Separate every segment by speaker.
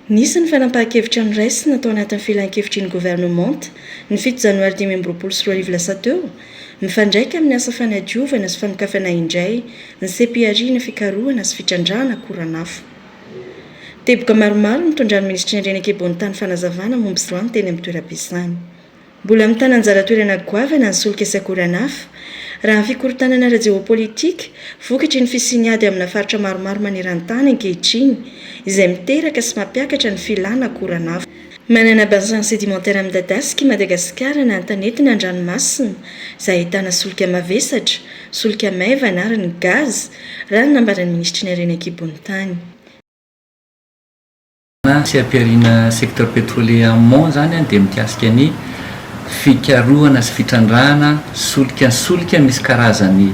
Speaker 1: Nisy ny fanapahan-kevitra noraisina tao anatin'ny Filan-kevitr'iny governemanta ny fito janoary dimy amby roapolo sy roa arivo lasa teo, mifandraika amin'ny asa fanadiovana sy fanokafana indray ny seha-pihariana fikarohana sy fitrandrahana koran'afo. Teboka maromaro nitondran'ny Minisitry ny Reny Akebontany fanazavana momba izany teny amin'ny toeram-piasany. Mbola mitana anjara toerana goavana ny solika sy akoran'afo. Raha ny fikorontanana ara-jeôpôlitika, vokatry ny fisian'ny ady amina faritra maromaro maneran-tany ankehitriny, izay miteraka sy mampiakatra ny filàna akoran'afo. Manana bassin sédimentaire midadasika i Madagasikara na an-tanety na an-dranomasina, izay ahitana solika mavesatra, solika maivana ary ny gaz, raha ny nambaran'ny minisitry ny harena an-kibon'ny tany.
Speaker 2: na tsy ampiharina secteur pétrolier en mon izany dia mikasika ny fikarohana sy fitrandrahana solika solika misy karazany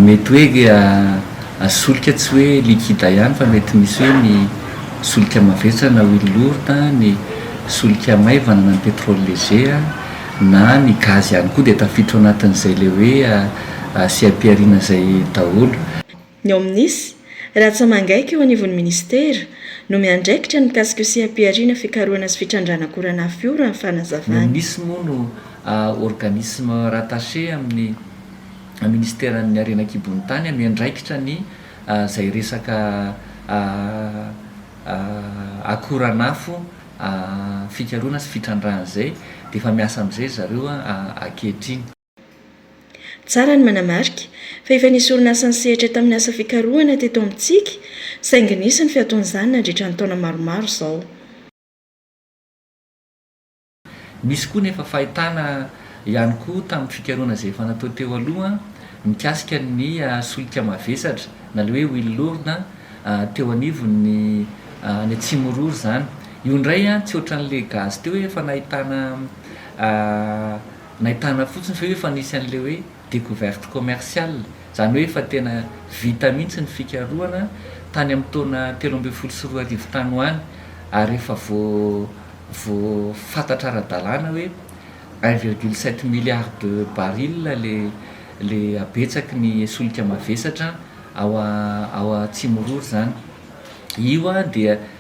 Speaker 2: mety hoe solika tsy hoe liquide ihany fa mety misy hoe ny solika mavesatra na huile lourde ny solika maivana na ny pétrole léger na ny gaz ihany koa dia tafiditra ao anatin'izay ilay hoe sy ampiharina izay daholo. Ny ao minis,
Speaker 1: Ratsamangaiky eo anivon'ny minisitera, no miandraikitra ny mikasika io seha-pihariana fikarohana sy fitrandrahana akoran'afo io, raha ny fanazavany. Ny minis moa no
Speaker 2: organisme rattaché amin'ny minisiteran'ny harena an-kibon'ny tany, miandraikitra ny izay resaka akoran'afo fikarohana sy fitrandrahana izay, dia efa miasa amin'izay ry zareo ankehitriny.
Speaker 1: Tsara ny manamarika fa efa nisy orinasa nisehatra tamin'ny asa fikarohana teto amintsika saingy nisy ny fiatoan'izany nandritra ny taona maromaro izao.
Speaker 2: Nisy koa ny efa fahitana ihany koa tamin'ny fikarohana izay efa natao teo aloha mikasika ny solika mavesatra na ilay hoe huile lourde teo anivon'ny any Atsimonroa izany. Io indray tsy ohatran'ilay gaz teo hoe efa nahitana Nahitana fotsiny ve hoe fa nisy an'ilay hoe découverte commerciale, izany hoe efa tena vita mihitsy ny fikarohana tany amin'ny taona telo ambin'ny folo sy roa arivo tany ho any ary efa vo vo fantatra ara-dalàna hoe un virgule sept milliard de barils le le habetsaky ny solika mavesatra ao ao Atsimonrory izany. Io dia.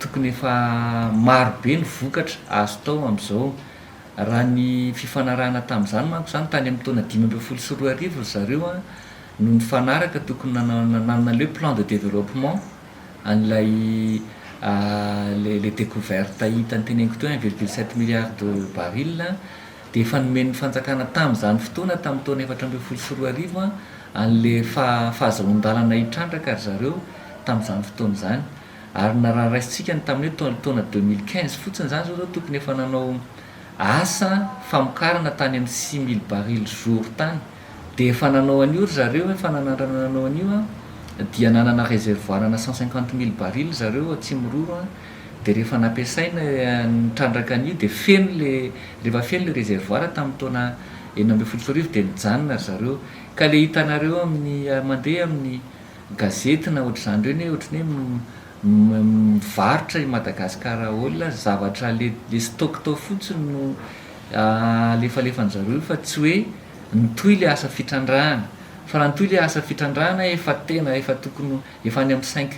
Speaker 2: Tokony efa maro be ny vokatra azo tao amin'izao. Raha ny fifanarahana tamin'izany manko izany, tany amin'ny taona dimy ambin'ny folo sy roa arivo ry zareo no nifanaraka, tokony nanana nanana le plan de développement an'ilay le le découverte hita noteneniko teo un virgule sept milliard de barils dia efa nomen'ny fanjakana tamin'izany fotoana tamin'ny taona efatra ambin'ny folo sy roa arivo an'le faha- fahazahoan-dalana hitrandraka ry zareo tamin'izany fotoana izany. ary na raha raisintsika ny tamin'ny hoe tamin'ny taona deux mille quinze fotsiny izany izao ireo tokony efa nanao asa famokarana tany amin'ny six mille barils jour tany dia efa nanao an'io ry zareo efa nanandrana nanao an'io an dia nanana réservoir ana cent cinquante mille barils ry zareo ao Tsimiroro an dia rehefa nampiasaina nitrandraka an'io dia feno le rehefa feno le réservoir tamin'ny taona enina ambin'ny folo sy roa arivo dia nijanona ry zareo ka le hitanareo amin'ny mandeha amin'ny gazety na ohatr'izany ireny hoe ohatry ny hoe mivarotra i Madagascar All zavatra le le stock tao fotsiny no alefalefan-dry zareo io fa tsy hoe nitohy le asa fitrandrahana fa raha nitohy le asa fitrandrahana efa tena efa tokony ho efa any amin'ny cinq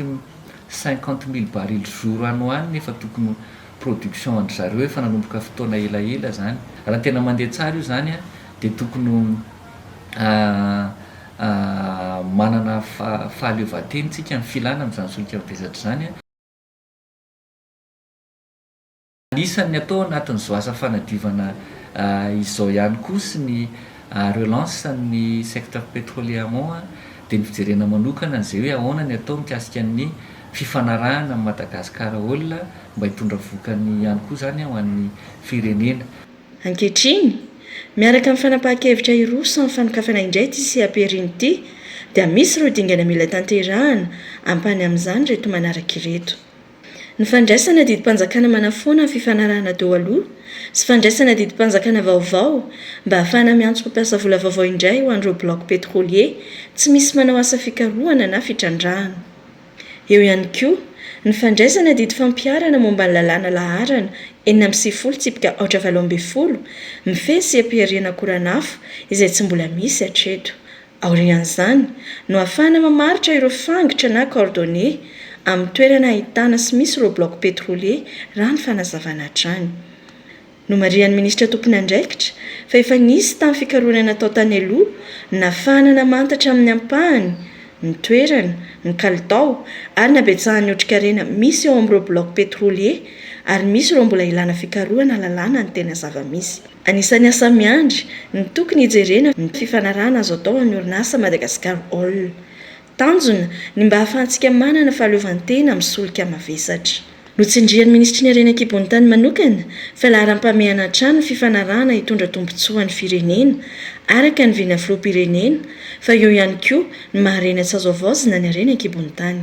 Speaker 2: cinquante mille barils jour any ho any efa tokony ho production an-dry zareo efa nanomboka fotoana elaela zany raha tena mandeha tsara io zany an dia tokony ho Manana fahaleovantena isika amin'ny filana amin'izany solika mavesatra izany. Anisan'ny atao anatin'izao asa fanadiovana izao ihany koa sy ny relance an'ny secteur petrolier amont dia ny fijerena manokana an'izay hoe ahoana ny atao mikasika ny fifanarahana amin'i Madagascar Oil mba hitondra vokany ihany koa izany ho an'ny firenena. Ankehitriny,
Speaker 1: miaraka amin'ny fanapahan-kevitra iroa samy fanokafana indray ity seha-perin ity, dia misy ireo dingana mila tanterahana ampahany amin'izany ireto manaraka ireto. Ny fandraisana didim-panjakana manafoana ny fifanarahana teo aloha sy fandraisana didim-panjakana vaovao mba hahafahana miantso mpampiasa vola vaovao indray ho an'ireo blocs pétroliers tsy misy manao asa fikarohana na fitrandrahana. Eo ihany koa ny fandraisana didy fampiharana momba ny lalàna laharana enina amby sivifolo tsipika aotra valo ambin'ny folo mifehy sy am-pihariana koran'afo izay tsy mbola misy hatreto. Aorian'izany no hahafahana mamaritra ireo fangitra na coordonnées amin'ny toerana ahitana sy misy ireo blocs pétroliers raha ny fanazavana hatrany. Nomarihan'ny minisitra tompon'andraikitra fa efa nisy tamin'ny fikarohana natao tany aloha nahafahana namantatra amin'ny ampahany ny toerana, ny kalitao ary ny habetsahan'ny otrikarena misy eo amin'ireo blocs pétroliers ary misy ireo mbola ilana fikarohana halalana ny tena zava-misy. Anisan'ny asa miandry ny tokony hijerena ny fifanarahana azo atao amin'ny orinasa Madagascar Oil. Tanjona, ny mba hahafahantsika manana fahaleovantena amin'ny solika mavesatra. Notsindrian'ny Minisitry ny Harena an-kibon'ny tany manokana fa laharam-pamehana hatrany ny fifanarahana hitondra tombontsoa an'ny firenena, araka ny vina Filoham-pirenena, fa eo ihany koa ny maha-harena tsy azo havaozina ny harena an-kibon'ny tany.